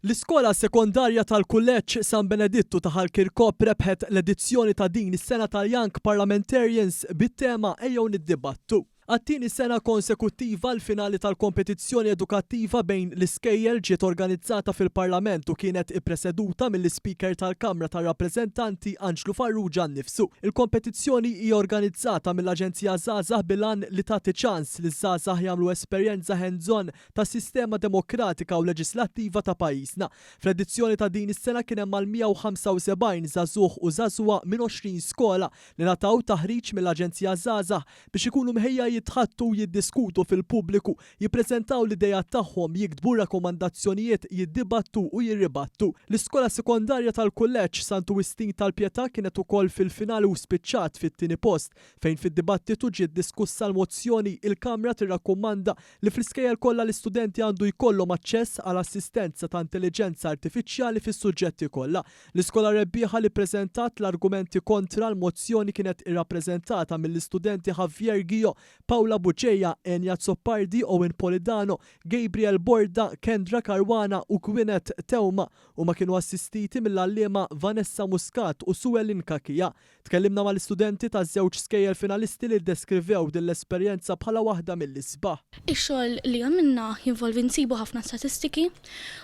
L-Iskola Sekondarja tal-Kulleġġ San Benedittu ta' Ħal Kirkop rebħet l-edizzjoni ta' din is-sena tal-Young Parliamentarians bit-tema Ejjew Niddibattu. Għat-tieni sena konsekuttiva l-finali tal-kompetizzjoni edukattiva bejn l-iskejjel ġiet organizzata fil-Parlament u kienet ippreseduta mill-Ispeaker tal-Kamra tar-Rappreżentanti Anġlu Farrugia nnifsu. Il-kompetizzjoni hija organizzata mill-Aġenzija Żgħażagħ bil-għan li tagħti ċans liż-żgħażagħ jagħmlu esperjenza hands-on tas-sistema demokratika u leġislattiva ta' pajjiżna. Fl-edizzjoni ta' din is-sena kien hemm mal-175 żagħżugħ u żagħżugħa minn 20 skola li ngħataw taħriġ mill-Aġenzija Żgħażagħ biex ikunu mħejja jitħaddtu, jiddiskutu fil-pubbliku, jippreżentaw l-ideat tagħhom, jiktbu rakkomandazzjonijiet, jiddibattu u jirribattu. L-iskola sekondarja tal-Kulleġġ Santu Wistin tal-Pietà kienet ukoll fil-finali u spiċċat fit-tieni post fejn fid-dibattitu ġiet diskussa l-mozzjoni Il-Kamra tirrakkomanda li fl-iskejjel kollha l-istudenti għandu jkollhom aċċess għal assistenza ta' intelliġenza artifiċjali fis-suġġetti kollha. L-iskola rebbieħa li ppreżentat l-argumenti kontra l-mozzjoni kienet irrappreżentata mill-istudenti Javier Guio, Paula Bugeja, Enya Azzopardi, Owen Polidano, Gabriel Borda, Kendra Caruana u Gwyneth Theuma. Huma kienu assistiti mill-għalliema Vanessa Muscat u Sue Lynn Cachia. Tkellimna mal-istudenti taż-żewġ skejjel finalisti li ddeskrivew din l-esperjenza bħala waħda mill-isbaħ. Ix-xogħol li għamilna jinvolvi nsibu ħafna statistiki.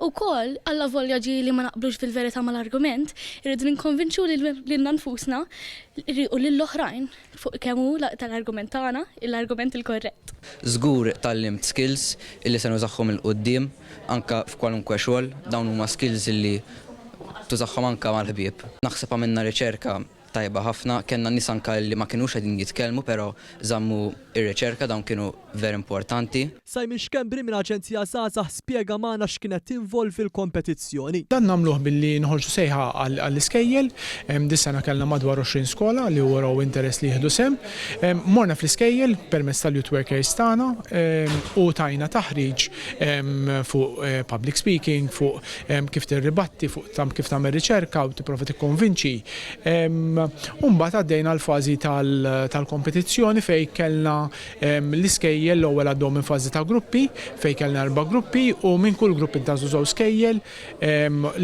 Ukoll, allavolja ġieli ma naqblux fil-verità mal-argument, irridu ninkonvinċu lilna nfusna u lill-oħrajn fuq kemm hu tal-argument tagħna l-argument il-korrett. Żgur tgħallimt skills li se nużahom 'il quddiem. Anke f'kwalunkwe xogħol, dawn huma skills li tużahom anke mal-ħbieb. Naħseb għamilna riċerka tajba ħafna, kellna nies anke li ma kinux qegħdin jitkellmu però żammu r-riċerka, dawn kienu ver importanti. Simon Schembri minn Aġenzija Żgħażagħ spjega magħna x'kienet tinvolvi l-kompetizzjoni. Dan nagħmluh billi noħorġu sejħa għall-iskejjel. Dis-sena kellna madwar 20 skola li wrew interess li jieħdu sehem. Morna fl-iskejjel permezz tal-Youth Workers tagħna u tajna taħriġ fuq public speaking, fuq kif tirribatti, fuq kif tagħmel riċerka u tipprova tikkonvinċi. Umbagħad għaddejna l-fażi tal-kompetizzjoni fejn kellna l-iskejjel l-ewwel għaddhom minn fażi ta' gruppi fejn kellna erba' gruppi u minn kull grupp intażu żewġ skejjel.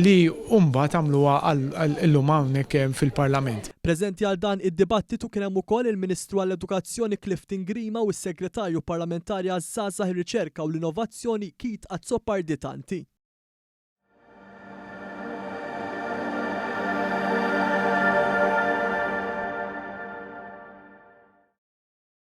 li u mbagħad għamluha għal illum hawnhekk fil-Parlament. Preżenti għal dan id-dibattitu kien hemm ukoll il-Ministru għall-Edukazzjoni Clifton Grima u s-Segretarju Parlamentari għaż-Żgħażagħ ir-Riċerka u l-Innovazzjoni Keith Azzopardi Tanti.